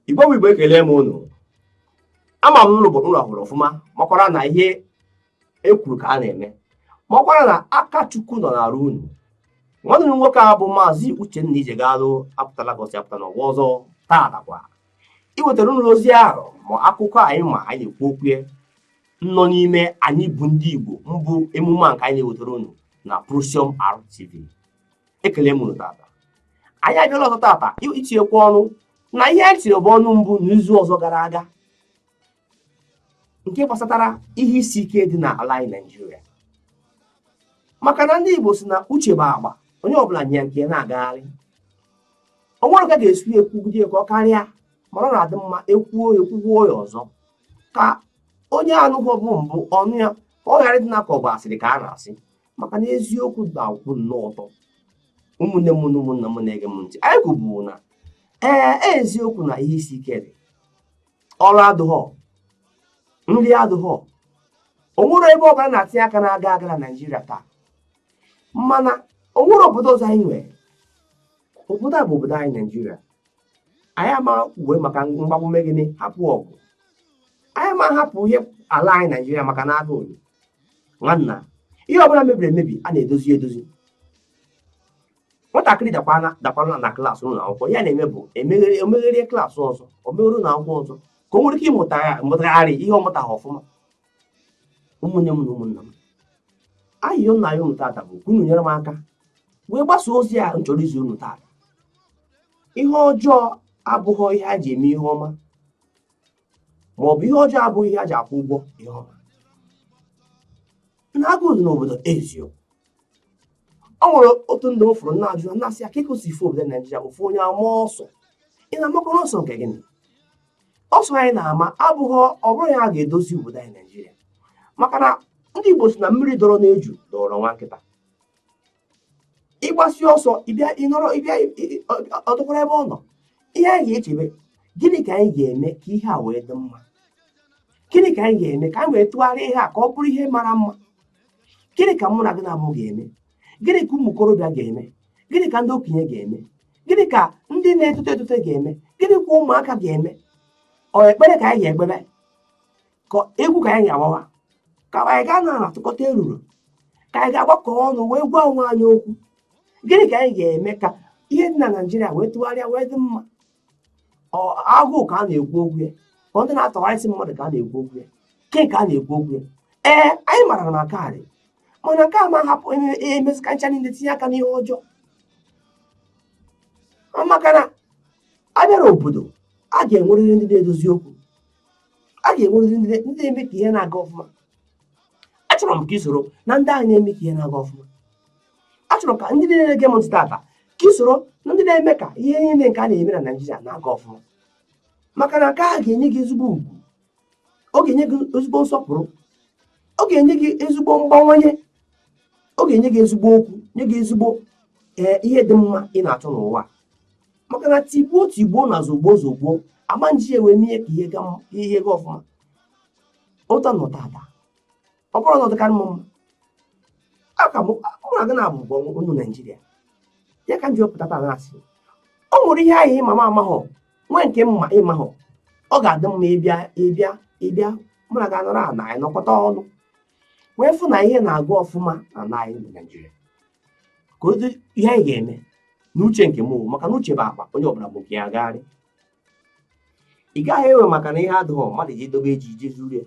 igbo bụ igbo ekele m unu ama m n'ụlọ ụlọ hụrụ ọfụma makwara na ihe e kwuru ka a na-eme makwara na aka chukwu nọ n'arụ unu nwanne unu nwoke a bụ maazị uchenna ijegalụ apụtala ka o si apụta n'ọgwa ọzọ taatakwa iwetara unu ozi ahụ ma akụkọ anyị ma anyị na-ekwu okwu nọ n'ime anyị bụ ndị igbo mbụ emume a nke anyị na-ewetara unu na Prosium RTV ekele m unu tata anyị abịala ọzọ tata itinyekwu ọnụ na ihe anyị tiribu ọnụ mbụ n'izu ọzọ gara aga nke gbasatara ihe isi ike dị na ala anyị Naịjirịa maka na ndị Igbo si na uche bụ akpa onye ọbụla nya nke ya na-agagharị o nwere ka a ga-esi ekwugide ka ọ karịa mana ọ na-adị mma e kwuo e kwukwuo ya ọzọ ka onye anụghịbu mbụ ọ nụ ya ka ọ ghara ịdị na ka ọ bụ asịrị ka a na-asị maka na eziokwu na-akwụ nnọọ ọtọ ụmụnne m na ụmụnna m na-ege m ntị anyị kwubu na ee e, eziokwu na ihe isi ike dị ọrụ adụghọ nri adụghọ o nwerọ ebe ọbụla a na-atinye aka na-aga aga na naijiria taa mana o nwerọ obodo ọzọ anyị nwere obodo a bụ obodo anyị naijiria anyị ama kwuwe maka mgbagbu mee gịnị hapụ ọgụ anyị ama hapụ ihe ala anyị naijiria maka na agụụ nwanna ihe ọbụla mebiri emebi a na-edozi edozi nwatakịrị dakwanụ na klaasị ụlọ akwụkwọ ihe a na-eme bụ o megherie klaasị ọzọ o megherie ụlọ akwụkwọ ọzọ ka o nwere ike ịmụtagharị ihe ọ mụtaghị ọfụma ụmụnne m na ụmụnna m ayịyọ m na-ayọ unu tata bụ ka unu nyere m aka wee gbasa ozi a m chọrọ izi unu tata ihe ọjọọ abụghị ihe a ji eme ihe ọma ma ọ bụ ihe ọjọọ abụghị ihe a ji akwụ ụgwọ ihe ọma na agụụ dị n'obodo eziokwu o nwere otu ndị m fụrụ na-ajụ na-asị ya ka ị kọsị ife obodo naijiria ofu onye ama ọsọ ị na-amakwanụ ọsọ nke gịnị ọsọ anyị na-ama abụghị ọ bụrụ ya ga-edozi obodo anyị naijiria maka na ndị igbo si na mmiri dọrọ n'eju dọrọ nwa nkịta ị gbasịa ọsọ ọ dọkwara ebe ọ nọ ihe anyị ga-echebe gịnị ka anyị ga-eme ka ihe a wee dị mma gịnị ka anyị ga-eme ka anyị wee tụgharịa ihe a ka ọ bụrụ ihe mara mma gịnị ka mụ na gị naabọ ga-eme gịnị ka ụmụ okorobịa ga-eme gịnị ka ndị okenye ga-eme gịnị ka ndị na-etote etote ga-eme gịnị ka ụmụaka ga-eme ọ ekpere ka anyị ga-ekpebe ka egwu ka anyị ga-agbawa ka anyị ga na-atụkọta eruru ka anyị ga-agbakọ ọnụ wee gwa onwe anyị okwu gịnị ka anyị ga-eme ka ihe dị na naijiria wee tụgharịa wee dị mma agụụ ka a na-ekwu okwu ya ọ ndị na-atọgharịsị mmadụ ka a na-ekwu okwu ya ke ka a na-ekwu okwu ya ee anyị mara na nke a dị mana nke a ma hapụ emesịka ncha niile tinye aka n'ihe ọjọọ maka na a bịara obodo a ga-enwerịrị ndị na-edozi okwu a ga-enwerịrị ndị na-eme ka ihe na-aga ọfụma achọrọ m ka i soro na ndị ahụ na-eme ka ihe na-aga ọfụma achọrọ ka ndị niile na-ege m ntị tata ka i soro na ndị na-eme ka ihe niile nke a na-eme na naijiria na-aga ọfụma maka na nke a ga-enye gị ezigbo ugwu ọ ga-enye gị ezigbo nsọpụrụ ọ ga-enye gị ezigbo mgbawanye ọ ga-enye gị ezigbo okwu nye gị ezigbo ee ihe dị mma ị na-achọ n'ụwa maka na tigbuo tigbuo na zogbuo zogbuo ama eji ya wee mee ka ihe ga ọfụma udo nọ tata ọ bụrụ na ọ dịkarị mma ka mụ na gị na-abụ onye naijiria ya ka m ji wee pụta taa na-asị o nwere ihe ahụ ị ma m amahụ nwee nke m ma ị mahụ ọ ga-adị mma ịbịa ịbịa ịbịa mụ na gị anọrọ ana anyị nọkọta ọnụ wee fụ na ihe na-aga ọfụma n'ana anyị na naijiria ka ozi ihe anyị ga-eme n'uche nke m maka na uche bụ akpa onye ọbụla bu nke ya agagharị ị gaghị ewe maka na ihe adịghị mma mmadụ edobe ji i je zuru ya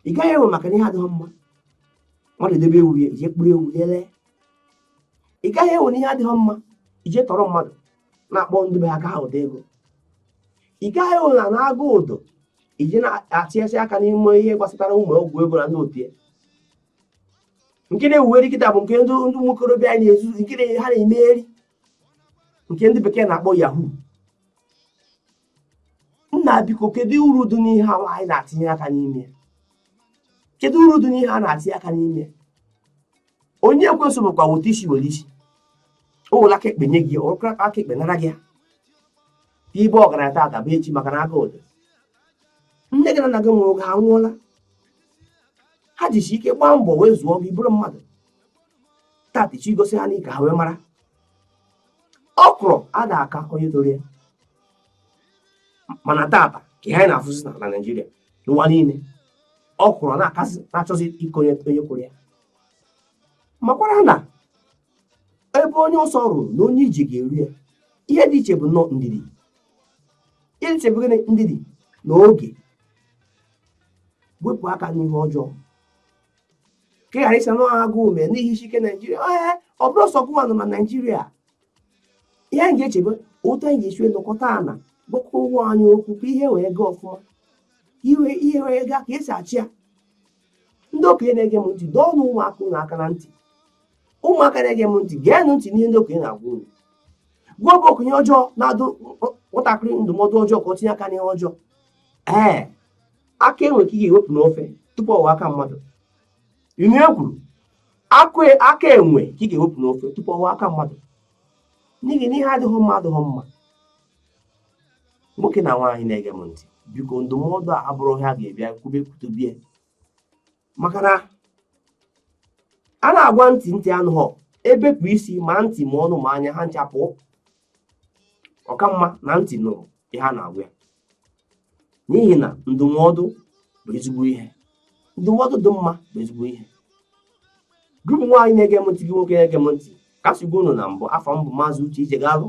ị gaghị ewe maka na ihe adịghị mma mmadụ debe ewu ya i je kpụrụ ewu ya lee ị gaghị ewe na ihe adịghị mma i je tọrọ mmadụ na-akpọ ndị be ha ka ha buta ego ị gaghị ewe na agụụ dị i je na-etinyesi aka n'ime ihe gbasatara ụmụ ọgwụ ego na ndị otu ya nke na-ewuweri kịta bụ nke ndị ụmụ okorobịa anyị na-ezu nke ha na-emeri nke ndị bekee na-akpọ yahoo nna biko kedu uru dị n'ihe a anyị na-etinye aka n'ime kedu uru dị n'ihe a na-etinye aka n'ime onyinye ekwensu bụkwa weta isi were isi o were aka ekpe nye gị o were aka ekpe nara gị ya ibe ọgaranya tata bụ echi maka na agụụ dị nne gị na nna gị mụrụ gị anwụọla ha jisi ike gbaa mbọ wee zụọ gị bụrụ mmadụ tata ị chọ igosi ha na ị ka ha wee mara ọkrọ ada aka onye toro ya mana tata kee ihe anyị na-afụzi na naijiria n'ụwa niile ọkrọ na-akasị na-achọzi ịka onye onye kụrụ ya makwara na ebe onye ọsọ ruru na onye ije ga-eru ya ihe dị iche bụ nnọọ ndidi ihe dị iche bụ gịnị ndidi na oge wepụ aka n'ihe ọjọọ ka ị ghara ịsa na agụ ume n'ihi isi ike naijiria ee ọ bụrọ sọ gụwa nọ na naijiria ihe anyị ga-echebe otu anyị ga-esi nọkọta a na-agwakọ onwe anyị okwu ka ihe wee gaa ọfụma ihe ihe wee gaa ka esi achọ ya ndị okenye na-ege m ntị dọọnụ ụmụaka unu aka na ntị ụmụaka na-ege m ntị geenụ ntị n'ihe ndị okenye na-agwa unu gwa bụ okenye ọjọọ na-adụ nwatakịrị ndụmọdụ ọjọọ ka ọ tinye aka n'ihe ọjọọ ee aka enwe ka ị ga-ewepụ n'ofe tupu ọ ghọọ aka mmadụ inu e kwuru e, aka enwe ka ị ga-ewepụ n'ofe tupu ọ ghọọ aka mmadụ n'ihi na ihe adịghị mma adịghị mma nwoke na nwaanyị na-ege m ntị biko ndụmọdụ a abụrọ ihe a ga-ebịa kwube kwutubie maka na a na-agwa ntị ntị anụghọ e bepụ isi ma ntị ma ọnụ ma anya ha ncha pụọ ọ ka mma na ntị nụrụ ihe a na-agwa ya n'ihi na ndụmọdụ bụ ezigbo ihe ndụmọdụ dị mma bụ ezigbo ihe gị bụ nwaanyị na-ege m ntị gị nwoke na-ege m ntị ka m si gwa unu na mbụ afa m bụ maazị uche ijegalụ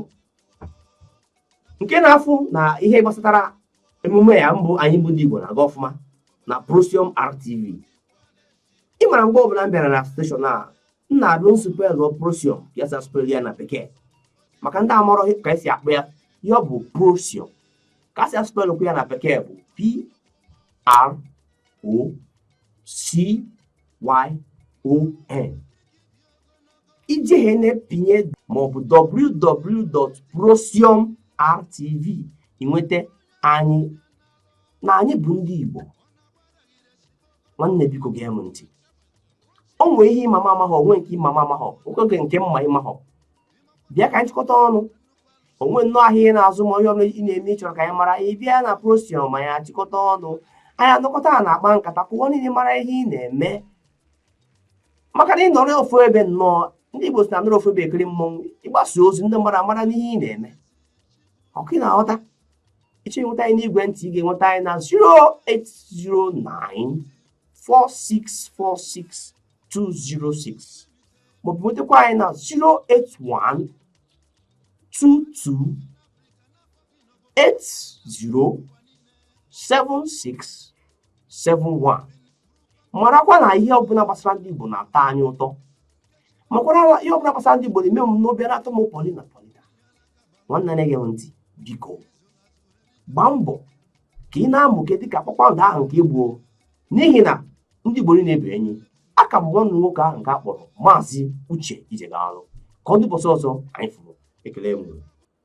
nke na-afụ na ihe gbasatara emume ya bụ anyị bụ ndị Igbo na-aga ọfụma na Procyon RTV ị mara mgbe ọbụla m bịara na steshọn a m na-abụ m spel Procyon ka a si aspel ya na bekee maka ndị amarọ ka esi akpọ ya ya bụ Procyon ka a si aspelụkwu ya na bekee bụ P R O C Y O N i jee na-epinye maọbụ www.procyonrtv i nweta anyị na anyị bụ ndị Igbo nwanne biko gee m ntị o nwee ihe ị ma m amaghọ o nwee nke ị ma m amaghọ o nwee nke m ma ị maghọ bịa ka anyị chịkọta ọnụ o nwee nnọọ ahịa ị na-azụ maọbụ ihe ọbụla ị na-eme ị chọrọ ka anyị mara ị bịa na Procyon anyị achịkọta ọnụ anyị anọkọta a na-akpa nkata ka ụwa niile mara ihe ị na-eme maka na ị nọrọ ofu ebe nnọọ ndị Igbo sị na anọrọ ofu ebe ekiri mmọnwụ ị gbasa ozi ndị mmadụ amara n'ihe ị na-eme ọ kwa ị na-aghọta ị chọọ inweta anyị n'igwe ntị ị ga-enweta anyị na 08094646206 maọbụ nwetakwa anyị na 08122807671 marakwa na ihe ọbụla gbasara ndị Igbo na-atọ anyị ụtọ makwara ihe ọbụla gbasara ndị Igbo na-eme m obi na-atọ m pọlịna pọlịna nwanne na-ege m ntị biko gbaa mbọ ka ị na-amụke dịka kpakpando ahụ nke ị bụ o n'ihi na ndị Igbo niile bụ enyi aka m nwanne nwoke ahụ nke a kpọrọ maazị Uche Ijegalụ ka ọ dị ụbọsị ọzọ anyị fụrụ ekele m